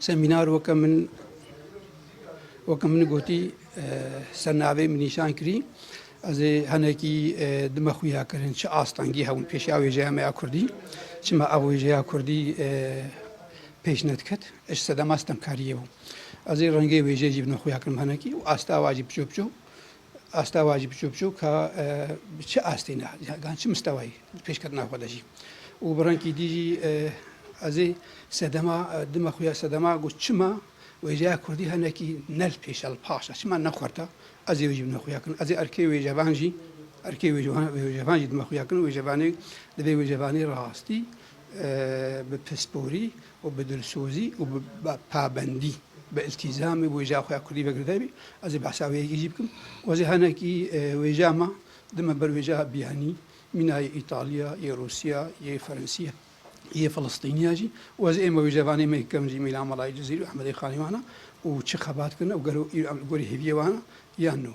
Semînar weke min weke min gotî ser navê min nîşan kirî. Ez ê henekî dime xuya kirin çi astengî hewin pêşiya wêjeya me ya Kurdî. Çima ev wêjeya Kurdî pêş nediket. Eş sedema stemkariyê bû. Ez ê rengê wêjeyê jî bime xuya kirim henekî û asta wa jî piço piço Astewa jî biçûk biçûk ka bi çi astê ne, gan çi mistewayî pêşketina xwe de jî û bi rengkî dî jî ez ê sedema dima xwe ya sedema got çima wêjeya kurdî hinekî ne li pêş e li paş e çima ne xurta ez ê wê jî dima xwe ya kinim ez ê erkê wêjevan jî erkê wêjevan jî dima xwe ya kinim wêjevanê divê wêjevanê rastî bi pisporî û bi dilsozî û bi pabendî bi îltîzamê wêjeya xwe ya kurdî vegirîdayî bî. Ez ê behsa wê yekê jî bikim û ez ê hinekî wêjeya me dime ber wêjeya biyanî mîna yê Îtalya, yê Rûsya, yê Ferensya, yê Filistînîya jî û ez ê êma wêjevanê me yê kevn jî mîna Melayê Cizîrî û Ehmedê Xanî wana û çi xebat kirine û gelo îro em li gorî hêviyê wana yan no.